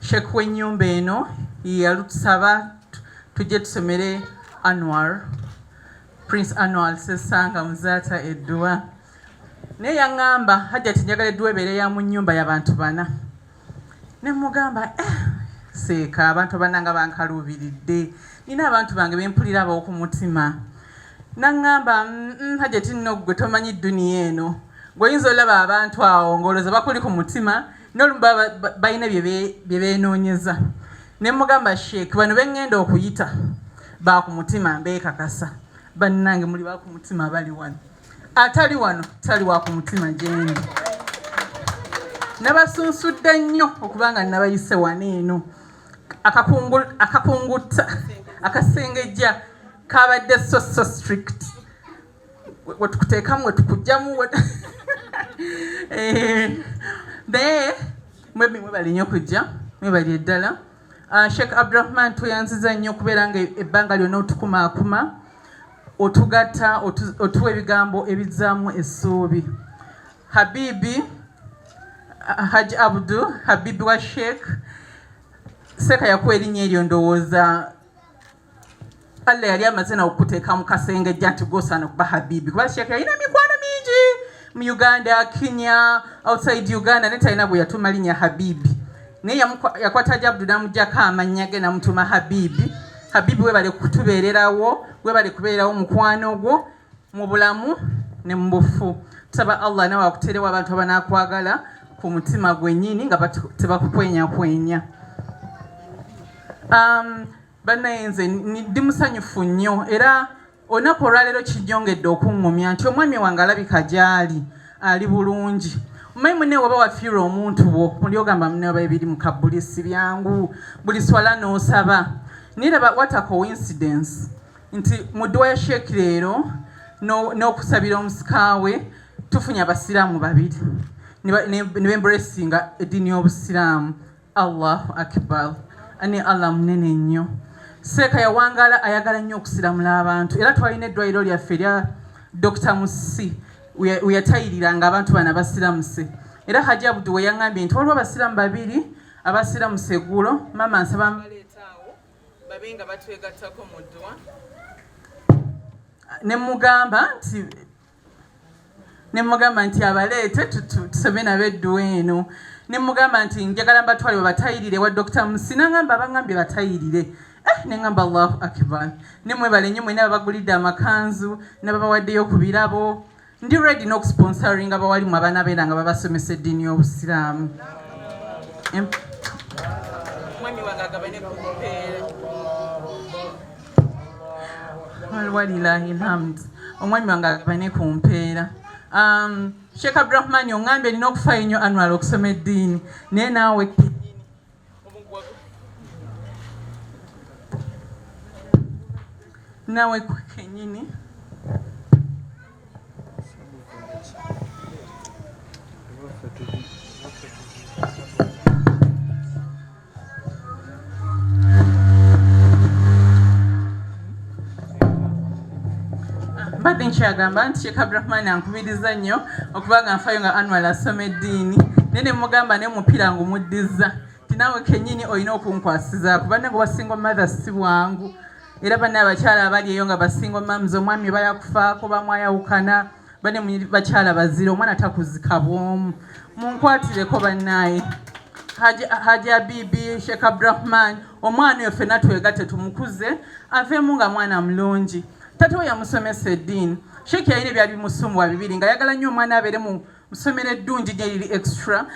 Sheikh w'ennyumba eno yalutusaba tujje tusomere Anwar Prince Anwar Ssessanga Muzaata edduwa naye yaŋŋamba hajjati njagala edduwa ebeere ya mu nnyumba y'abantu bana ne mugamba eh, seeka abantu abananga bankaluubiridde nina abantu bange bempulira abawo ku mutima naŋŋamba mm, hajjati nno ggwe tomanyi dduniya eno gwe oyinza olaba abantu awo ng'olowooza bakuli ku mutima nolumu balina byebenoonyeza ne mugamba sheik bano bengenda okuyita bakumutima mbekakasa bannange muli bakumutima bali wano atali wano tali wakumutima gyendi nabasunsudde nnyo okuba nga nabayise wano eno akakungutta akasengejja kabadde so so strict wetukuteekamu wetukujjamu eh, naye mwebi mwebale nnyo kujja mwebali eddala ah, sheikh abdurahman tweyanziza nnyo okubeera nga ebbanga lyonna otukumaakuma otugatta otuwa ebigambo ebizzaamu essuubi habibi ah, haji abdu habibi wa sheikh seeka yakuwa erinnya eryo ndowooza Allah yali amaze na okuteeka mu kasenge jja nti gwosaana okuba habibi kuba sheikh yalina mikwano mingi mu uganda kenya outside uganda naye talina bwe yatuma linya habibi naye yakwata jabdu namugyako amannya ge namutuma habibi habibi webale kutubeererawo webale kubeererawo mukwano gwo mu bulamu ne mu bufu tusaba allah nawe akuterewo abantu abanakwagala ku mutima gwennyini nga tebakukwenyakwenya um, banaye nze ndi musanyufu nnyo era olunaku olwaleero kijjongedde okuŋŋumya nti omwami wange alabika gy'ali ali bulungi omanyi mune waba wafiirwa omuntu wo muli ogamba mune waba ebiri mu kabbuli si byangu buli swala n'osaba naye laba what a coincidence nti mu dduwa ya sheeki leero n'okusabira omusikaawe tufunye abasiraamu babiri ne bemburesinga eddiini y'obusiraamu Allahu akbar ani Allah munene nnyo seeka yawangaala ayagala nnyo okusiramula abantu era twalina eddwaliro lyaffe erya Dr Musi weyatayirira nga abantu bana basiramuse era Hajji Abdu we yangambye nti waliwo abasiramu babiri abasiramuse eggulo maama nsaba mbaleetaawo babe nga batwegattako mu ddwa ne mugamba nti ne mugamba nti abaleete tusome nabo edduwa eno ne mugamba nti njagala mbatwale babatayirire wa dokita musi nangamba abangambye batayirire eh, ne ngamba allahu akbar ne mwebale nnyo mwena babagulidde amakanzu nababawaddeyo ku birabo ndi redi n'okusponsoringa bawali mu abaana beera nga babasomesa eddiini y'obusiraamu walilahi lhamd omwami wange agabane ku mpeera um, sheikh abdurahmani ongambe erina okufaayo nnyo anwal okusoma eddiini naye naawe nawe kenyini mbadde nkyagamba nti sheikh abdurahmani ankubiriza nnyo okuba nga nfayo nga anwal asoma eddiini naye ne mugamba naye omupiira ngumuddizza ti naawe kennyini olina okunkwasizaako banne nga obasinga omatha si bwangu era banne abakyala abali eyo nga basinga omams omwami bala kufaako bamwayawukana bane munyiri bakyala bazira omwana takuzika bwomu munkwatireko banaye haji abibi sheikh abdurahman omwana oyo fena twegate tumukuze avemu nga mwana mulungi tata we yamusomesa eddiini sheikh yalina ebyali bimusumbuwa bibiri nga ayagala nnyo omwana abeere mu ssomero eddungi gyeriri extra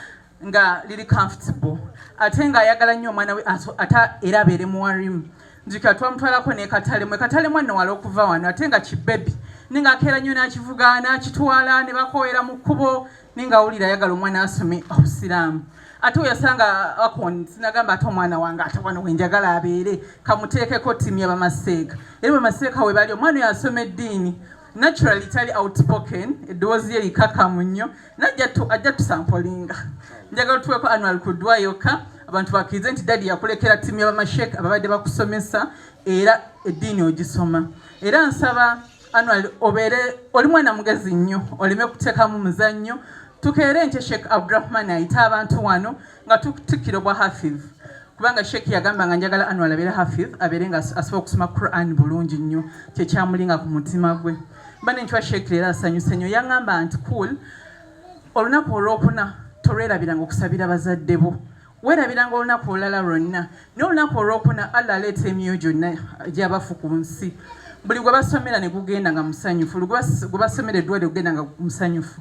nga liri comfortable ate nga ayagala nnyo omwana we ate era abeere muwarimu njikira twamutwalako nekatalemu ekatalemu anowala okuva wano ate nga kibebi ninga akeera nnyo nakivuga nakitwala ne bakowera mu kkubo ninga awulira ayagala omwana asome obusiraamu ate weyasanga akon sinagamba ate omwana wange ate wano wenjagala abeere kamuteekeko ttimu yabamaseeka era bamaseeka we bali omwana oyo asoma eddiini naturally tali outspoken eddoboozi lye likakamu nnyo najja tusampolinga njagala tuweko annual kudwa yokka abantu bakirize nti dadi yakulekera tiimu yabamashek ababadde bakusomesa era eddiini ogisoma era nsaba annual obeere oli mwana mugezi nnyo oleme kuteekamu muzannyo tukeere nkye sheikh abdurahman ayita abantu wano nga tukutikira obwa hafidh kubanga sheikh yagamba nga njagala anwar abeere hafidh abeere nga asobola okusoma quran bulungi nnyo kyekyamulinga ku mutima gwe bane nkiwa sheikh leero asanyuse nnyo yangamba nti cool olunaku olwokuna tolwerabiranga okusabira bazadde bo werabiranga olunaku olulala lwonna naye olunaku olwokuna allah aleeta emyoyo gyonna gyabafu ku nsi buli gwe basomera ne gugenda nga musanyufu gwe basomera eddwaliro gugenda nga musanyufu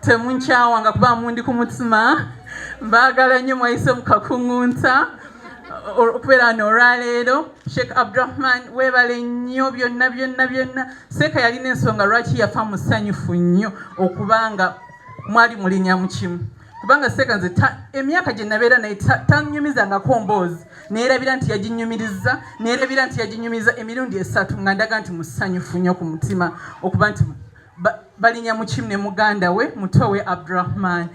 temunkyawa nga kuba mundi ku mutima mbaagala nnyo mwayise mu kakuŋŋunta okubeera wano olwaleero sheikh abdurahman weebale nnyo byonna byonna byonna seeka yalina ensonga lwaki yafa musanyufu nnyo okuba nga mwali mulinya mu kimu kubanga seeka nze emyaka gye nabeera naye tanyumizangako mboozi neerabira nti yaginyumiriza neerabira nti yaginyumiriza emirundi esatu nga ndaga nti musanyufu nnyo ku mutima okuba nti balinya mukim ne muganda we muto we abdurahman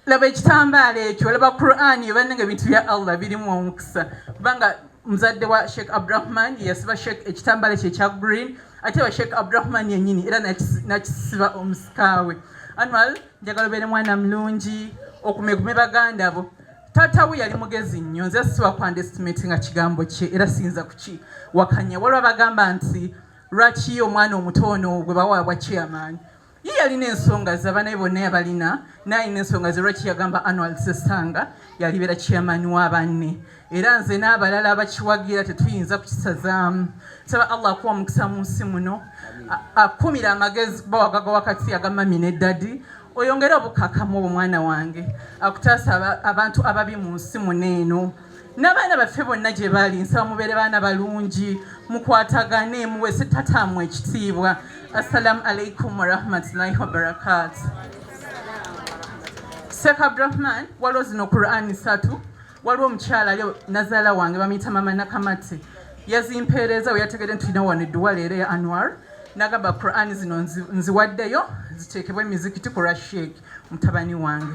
laba ekitambaala ekyo laba quran yebananga ebintu bya allah birimu omukisa kubanga muzadde wa sheikh abdurahman yasiba sheikh ekitambaala kye ekya green ate wa sheikh abdurahman yenyini era nakisiba omusikaawe anwal njagala obeere mwana mulungi okumegume baganda bo taata we yali mugezi nnyo nze siwa kwandestimate nga kigambo kye era siyinza kukiwakanya waliwo abagamba nti lwaki omwana omuto ono gwe bawaabwa chairman ye yalina ensonga ze abanaye bonna yabalina nayina ensonga ze lwaki yagamba annual sesanga yalibeera chairman wa banne era nze n'abalala abakiwagira tetuyinza kukisazaamu saba allah akuwa omukisa mu nsi muno akumira amagezi bawagaga wakati agamami ne dadi oyongere obukakamu obwo mwana wange akutaasa abantu ababi mu nsi muno eno n'abaana baffe bonna gye bali nsaba mubeere baana balungi mukwatagane muweese tataamwe ekitiibwa assalamu alaikum warahmatullahi wabarakatu sheekh abdurahman waliwo zino qurani satu waliwo omukyala ali nazaala wange bamuyita mama nakamati yazimpeereza we yategede nti tulina wano edduwa leero ya anwar nagamba qurani zino nziwaddeyo ziteekebwe emizikiti ku rashek mutabani wange